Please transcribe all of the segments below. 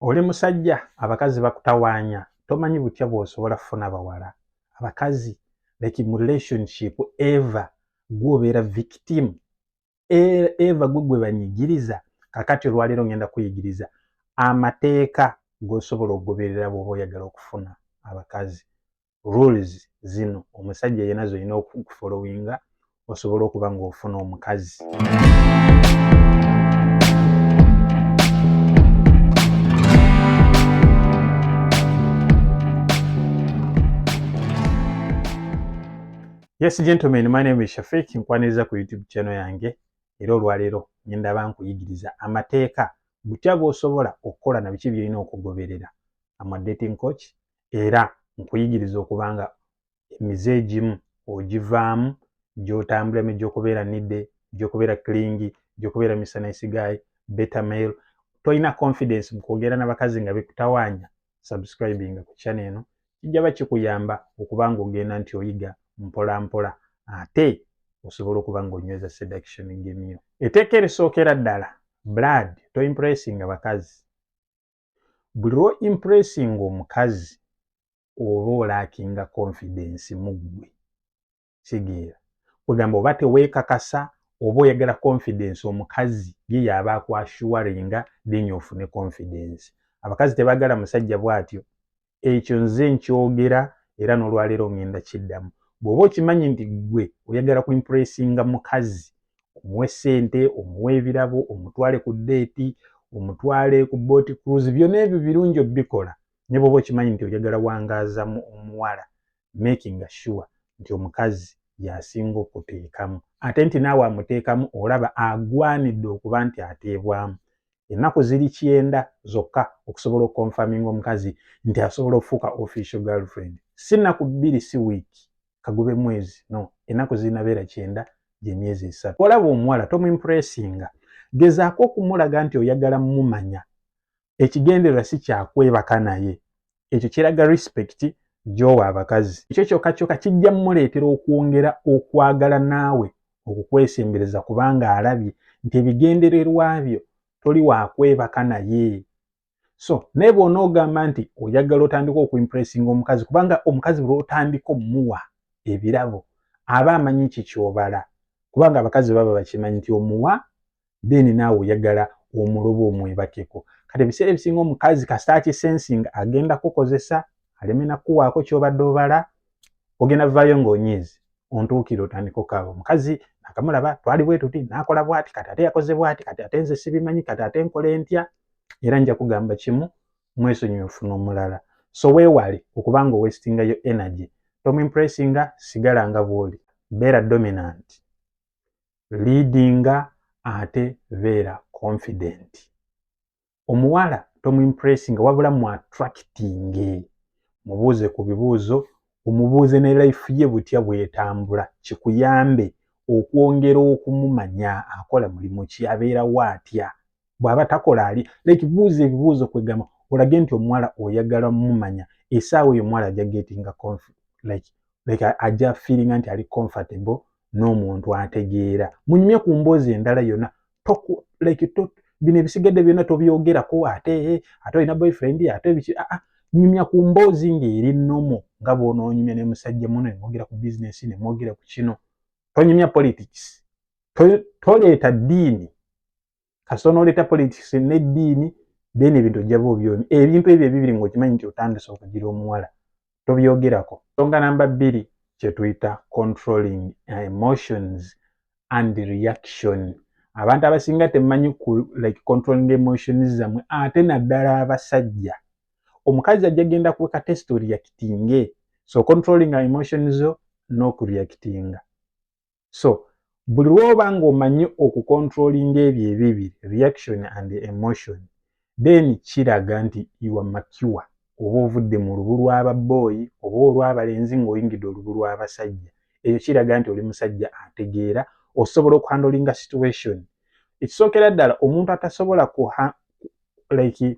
Oli musajja abakazi bakutawaanya tomanyi butya bwosobola kufuna bawala abakazi like mu relationship ever gwe obeera victim e-, ever gwe gwe banyigiriza kakati olwaleero ngenda kuyigiriza amateeka gosobola okugoberera bwoba oyagala okufuna abakazi rules zino omusajja yena zolina okufolowinga osobola okuba ngaofuna omukazi yes gentlemen my name is shafik nkwaniriza ku youtube channel yange era olwaleero ngenda ba nkuyigiriza amateeka butya bwosobola okukola na biki byolina okugoberera am a dating coach era nkuyigiriza okuba nga emize egimu ogivaamu gyotambula emi gyokubeera nidde gyokubeera kilingi gyokubeera misana isigayi betamail tolina confidence mukwogera nabakazi nga bikutawanya subscribinga ku channel eno kijaba kikuyamba okuba nga ogenda nti oyiga mpola mpola ate osobola okuba nga onyweza seduction gemyo eteeka erisookera ddala blood to impressing abakazi Buli lwo impressinga omukazi oba olakinga confidence muggwe. Kitegeera? Kwegamba oba tewekakasa oba oyagala confidence omukazi ye yaaba aku assuringa then ofune confidence. Abakazi tebagala musajja bwatyo. ekyo nze nkyogera era n'olwaleero ngenda kiddamu bw'oba okimanyi nti ggwe oyagala ku impressinga mukazi omuwe ssente omuwe ebirabo omutwale ku deeti omutwale ku booti cruise byona ebyo birungi obikola naye bw'oba okimanyi nti oyagala wangaaza mu omuwala makinga sure nti omukazi yasinga okuteekamu ate nti naawe amuteekamu olaba agwanidde okuba nti ateebwamu ennaku ziri kyenda zokka okusobola okukonfaminga omukazi nti asobola okufuuka official girlfriend si nnaku bbiri si wiiki kagube mwezi no ennaku zirinabeera kyenda gyemyezi esatu olaba omuwala tomumpuresinga gezaako okumulaga nti oyagala mumanya ekigendererwa si kyakwebaka naye ekyo kiraga respect gyowa abakazi ekyo kyoka kyoka kijja muleetera okwongera okwagala naawe okukwesembereza kubanga alabye nti ebigendererwa byo toli wakwebaka naye so naye bwona ogamba nti oyagala otandika okuimpressinga omukazi kubanga omukazi bwotandika omuwa ebirabo aba amanyi kikyobala kubanga abakazi baba bakimanyi nti omuwa then naawe oyagala omulobo omwebakeko kati ebiseera ebisinga omukazi kasita akisensinga agenda kukozesa aleme nakuwaako kyobadde obala ogenda vaayo ngaonyiizi ontuukire otandika okaaba omukazi nakamulaba twali bwetuti nakola bwati kati ate yakoze bwati kati ate nze sibimanyi kati ate nkola entya era nja kugamba kimu mwesonyiwe ofuna omulala so weewale okuba nga owesitinga yo energy tomumpressinga sigala nga bwoli beera dominant liidinga ate beera confident omuwala tomumpressinga wabula mu attracting mubuuze ku bibuuzo omubuuze ne life ye butya bwetambula kikuyambe okwongera okumumanya akola mulimu ki abeerawo atya bwaba takola ali like buuza ebibuuzo kwegamba olage nti omuwala oyagala mumanya esaawa eyo omuwala aja gettinga like, like aja feelinga nti ali comfortable n'omuntu ategeera munyumye ku mboozi endala yona toku like to, bino ebisigadde byona tobyogerako ate ate olina boyfriend ate biki aa ah, ah, nyumya ku mboozi ng'eri nomo nga bwononyumya ne musajja muno nemwogera ku business nemwogera ku kino tonyumya politics toleeta diini kasita onoleeta politics n'eddiini then ebintu ojja ba obyomi ebintu ebyo ebibiri ng'okimanyi nti otandise okugira omuwala tobyogerako songa namba bbiri kyetuyita controlling emotions and reaction abantu abasinga temumanyi ku like controlling emotions zamwe ate naddala abasajja omukazi ajja genda kuweka test oriyakitinge so controlling emotions zo n'okureyakitinga so buli lwoba nga omanyi okukontrolinga ebyo ebibiri reaction and emotion then kiraga nti iwa makiwa oba ovudde mu lubu lw'ababooyi oba olw'abalenzi ng'oyingidde olubu lw'abasajja ekyo kiraga nti oli musajja ategeera osobola okuhandolinga situation ekisookera ddala omuntu atasobola kuha like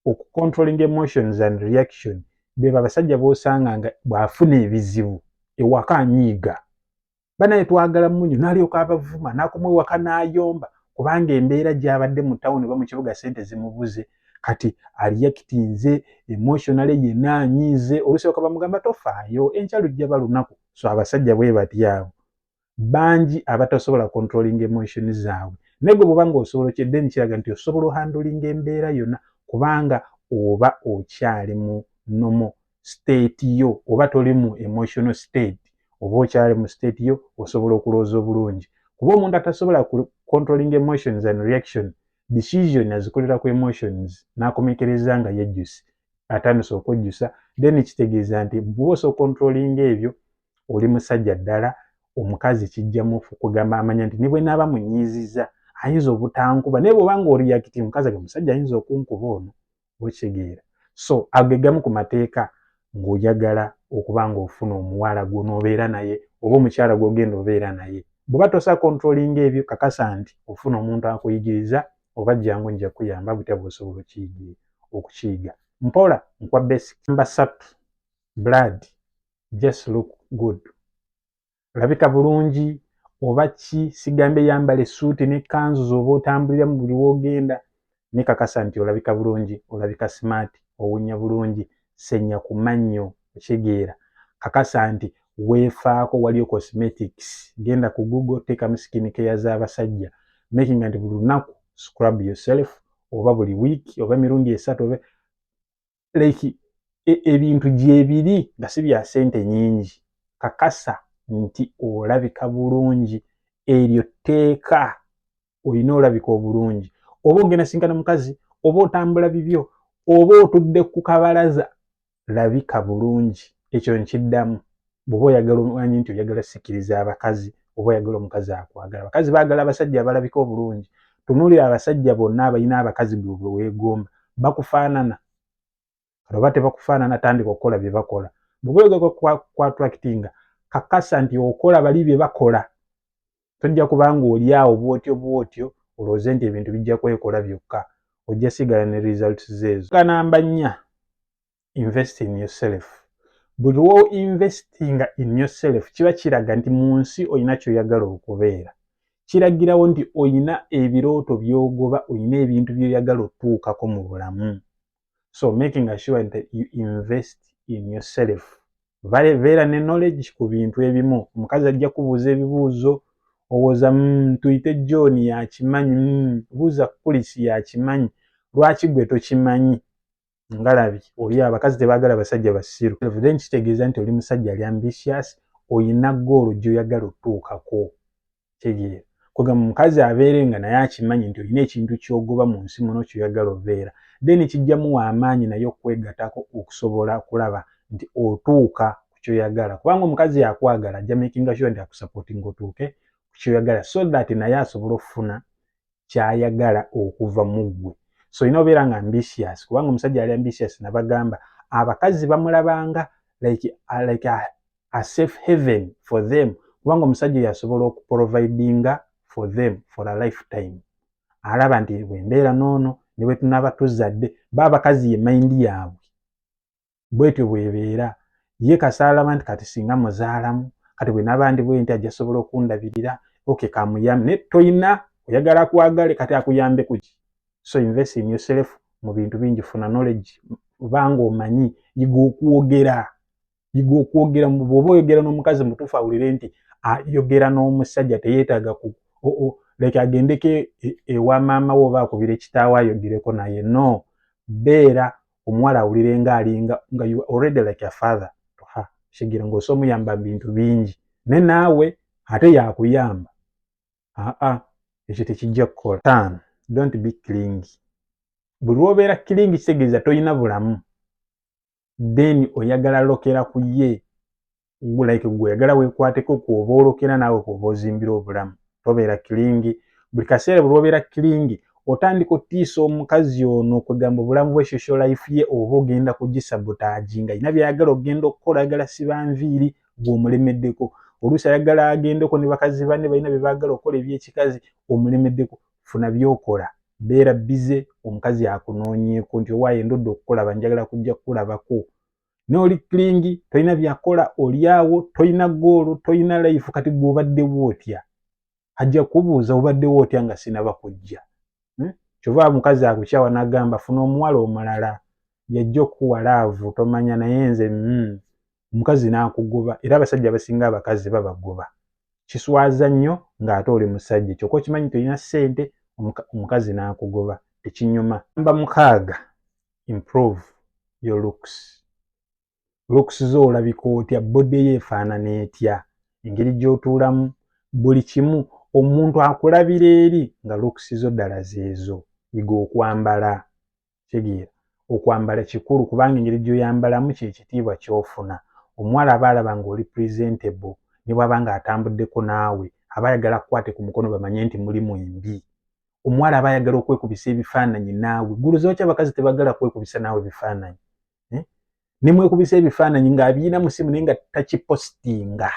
oku controlling emotions and reaction beba abasajja bosanga nga bwafuna ebizibu ewaka anyiiga banaye twagala munyo nalyoka abavuma nakumwe waka nayomba kubanga embeera gyabadde mu tawuni oba mu kibuga sente zimubuze kati aliyakitinze emotionale yena anyiize olusoboka bamugamba tofaayo enkya lujja balunaku so abasajja bwe batyaabo bangi abatasobola controlling emotion zaabwe naye gwe bwoba nga osobola okye then kiraga nti osobola ohandling embeera yonna kubanga oba okyali mu nomo state yo oba toli mu emotional state oba okyali mu state yo osobola okulowooza obulungi kuba omuntu atasobola controlling emotions and reaction decision azikolera ku emotions n'akomekereza nga yejjusi atandise okwejjusa then kitegeeza nti bwosa okontrolinga ebyo oli musajja ddala omukazi kijja mufu kugamba amanya nti ne bwe naaba munyiizizza ayinza obutankuba naye bwoba nga oriyakiti omukazi age musajja ayinza okunkuba ono okitegeera so ago ge gamu ku mateeka ng'oyagala okuba ng'ofuna omuwala gw'onoobeera naye oba omukyala gw'ogenda obeera naye bw'oba tosa kontrolinga ebyo kakasa nti ofuna omuntu akuyigiriza oba jjangu nja kuyamba butya bw'osobola okukiyiga mpola nkwa basic namba ssatu blood just look good olabika bulungi oba ki sigambye yambala essuuti ne kanzu zooba otambulira mu buli woogenda nekakasa nti olabika bulungi olabika smart owunya bulungi senya ku mannyo okitegeera kakasa nti weefaako waliyo cosmetics genda ku google teekamu skin care z'abasajja making nti buli lunaku scrub yourself oba buli wiiki oba emirundi esatu oba like e, ebintu gyebiri nga si bya sente nyingi kakasa nti olabika bulungi eryo tteeka olina olabika obulungi oba ogenda sinkana mukazi oba otambula bibyo oba otudde ku kabalaza labika bulungi ekyo nkiddamu bwoba oyagala omanyi nti oyagala sikiriza abakazi oba oyagala omukazi akwagala abakazi bagala abasajja abalabika obulungi tunulira abasajja bonna abalina abakazi bwebwe wegomba bakufaanana oba tebakufaanana tandika okukola byebakola bwoba oyagala kwatraktinga kakasa nti okola bali byebakola tojja kubanga oli awo bwotyo bwotyo olowooze nti ebintu bijja kwekola byokka ojja sigala ne results zeezo kanamba nnya invest in yourself buli wo investinga in yourself kiba kiraga nti mu nsi olina kyoyagala okubeera kiragirawo nti olina ebirooto byogoba olina ebintu byoyagala otuukako mu bulamu so making assure nti you invest in yourself beera ne knowledge ku bintu ebimu omukazi ajja kubuuza ebibuuzo owoza mm, tuyite john yakimanyi mm, buuza kulisi yakimanyi lwaki gwe tokimanyi ngalabi oli abakazi tebagala basajja basiru then kitegeeza nti oli musajja ali ambitious oyina goolo gyoyagala otuukako tegeera kwegamba omukazi abeere nga naye akimanyi nti olina ekintu kyogoba mu nsi muno kyoyagala obeera then kijjamuwa amaanyi naye okwegatako okusobola okulaba nti otuuka ku kyoyagala kubanga omukazi yakwagala ajja makinga sure nti akusapoti nga otuuke ku kyoyagala so that naye asobole okufuna kyayagala okuva mu ggwe so olina obeera nga ambitious kubanga omusajja yali ambitious nabagamba abakazi bamulabanga like, uh, like a, a safe haven for them kubanga omusajja oyo asobola okuprovidinga for them for a lifetime alaba nti bwembeera noono nebwetunaba tuzadde ba abakazi ye mayindi yaabwe bwetyo bwebeera ye kasaalaba nti kati singa muzaalamu kati bwe naba ndi bwenti ajja sobola okundabirira oke kamuyambe naye toyina oyagala kwagale kati akuyambe kuki so invest in yourself mu bintu bingi funa knowledge kubanga omanyi yiga okwogera yiga okwogera bwoba oyogera n'omukazi mutuufu awulire nti ayogera n'omusajja teyeetaaga ku leke agendeko e, e, ewa maama we oba akubire kitaawo ayogereko naye no beera omuwala awulire nga alinga nga you already like a father to her shigira ng'osa omuyamba bintu bingi ne naawe ate yakuyamba aa ekyo tekijja kukola tan don't be clingi buli lwobeera clingi kitegeeza tolina bulamu then oyagala lokera ku ye like gwe oyagala wekwateko kwoba olokera naawe kwoba ozimbira obulamu tobeera kilingi buli kaseera buli obeera kilingi otandika otiisa omukazi ono kwegamba obulamu bwe social life ye oba ogenda kugisabotaji nga yina byayagala okugenda okukola ayagala siba nviiri gweomulemeddeko oluusi ayagala agendeko ne bakazi bane balina byebagala okukola ebyekikazi omulemeddeko funa byokola beera bize omukazi akunoonyeeko nti owaaye ndodde okukulaba njagala kujja kukulabako n'oli kilingi tolina byakola olyawo tolina goolo tolina layifu kati gwe obaddewo otya ajja kubuuza obaddewo otya nga sinaba kujja hmm? kyova mukazi akukyawa nagamba funa omuwala omulala yajja okukuwa laavu tomanya naye nze hmm, omukazi nakugoba era abasajja abasinga abakazi babagoba kiswaza nnyo ng'ate oli musajja kyoka okimanyi tolina ssente omukazi nakugoba tekinyuma namba mukaaga improve your looks looks zo olabika otya body yo efaanana etya engeri gy'otuulamu buli kimu omuntu akulabira eri nga looks zo ddala zeezo yiga okwambala tegeera okwambala kikulu kubanga engeri gy'oyambalamu kyekitiibwa kyofuna omuwala aba alaba ng'oli presentable ne bwaba nga atambuddeko naawe aba ayagala kukwate ku mukono bamanye nti mulimu embi omuwala aba ayagala okwekubisa ebifaananyi naawe gulu zoki abakazi tebagala kwekubisa naawe bifaananyi eh? nemwekubisa ebifaananyi ng'abiina musimu naye nga takipositinga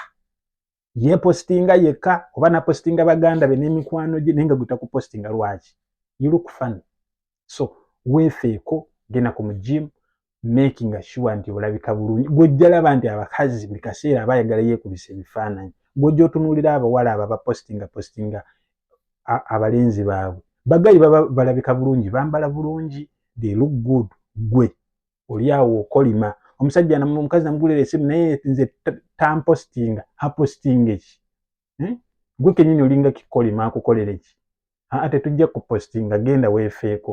yepositinga yekka oba napositinga baganda be n'emikwano gye naye nga gwe takupositinga lwaki you look funny so weefeeko genda ku mujimu making sure nti olabika bulungi gwojjalaba nti abakazi buli kaseera abayagala yekubisa ebifaananyi gwojja otunuulira abawala abo abapostinga postinga abalenzi baabwe bagayi baba balabika bulungi bambala bulungi they look good gwe oli awo okolima omusajja omukazi namugulira esimu naye nze tampostinga apostinga eki hmm? gwe kenyini olinga kikolima akukolera eki aa tetujja kupostinga genda wefeeko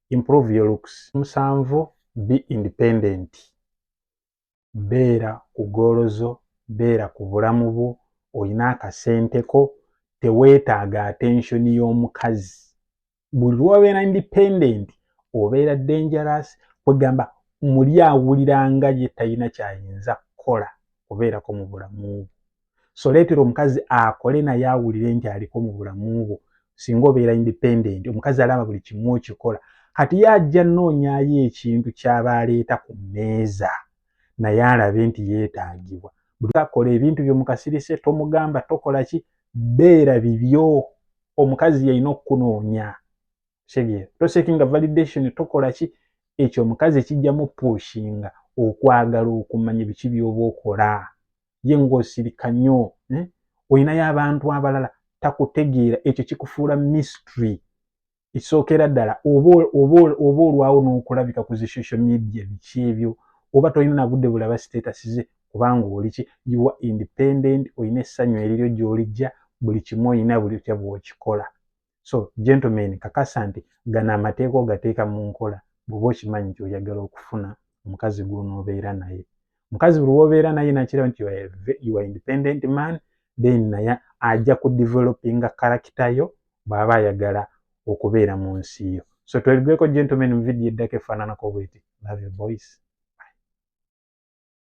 improve your looks musanvu be independent beera ku goolo zo beera ku bulamu bwo olina akasente ko teweetaaga attention y'omukazi buli lwobeera independent obeera dangerous kwegamba muli awulira nga ye talina kyayinza kukola kubeerako mu bulamu bwo so leetera omukazi akole naye awulire nti aliko mu bulamu bwo singa obeera independent omukazi alaba buli kimu okikola kati ye ajja noonyayo ekintu kyaba aleeta ku mmeeza naye alabe nti yeetaagibwa buli akola ebintu byo mukasirise tomugamba tokola ki beera bibyo omukazi yalina okukunoonya kitegeera tosekinga validation tokola ki ekyo omukazi kijjamu pushinga okwagala okumanya biki byoba okola ye ng'osirika nnyo eh? olinayo abantu abalala takutegeera ekyo kikufuula mystery ekisookera ddala oba olwawo n'okulabika ku zi social media biki ebyo oba tolina nagudde bulaba sitatasi ze kubanga oliki yuwa independent olina essanyu eriryo gy'olijja buli kimu olina buli otya bw'okikola so gentlemen kakasa nti gano amateeka ogateeka mu nkola bwoba okimanyi nti oyagala okufuna omukazi gwonobeera naye mukazi buli wobeera naye nakiraba nti you are independent man then naye ajja ku developinga karakita yo bwaba ayagala okubeera mu nsi yo so twebigweko gentlemen mu vidiyo eddako efaananako bweti love your boys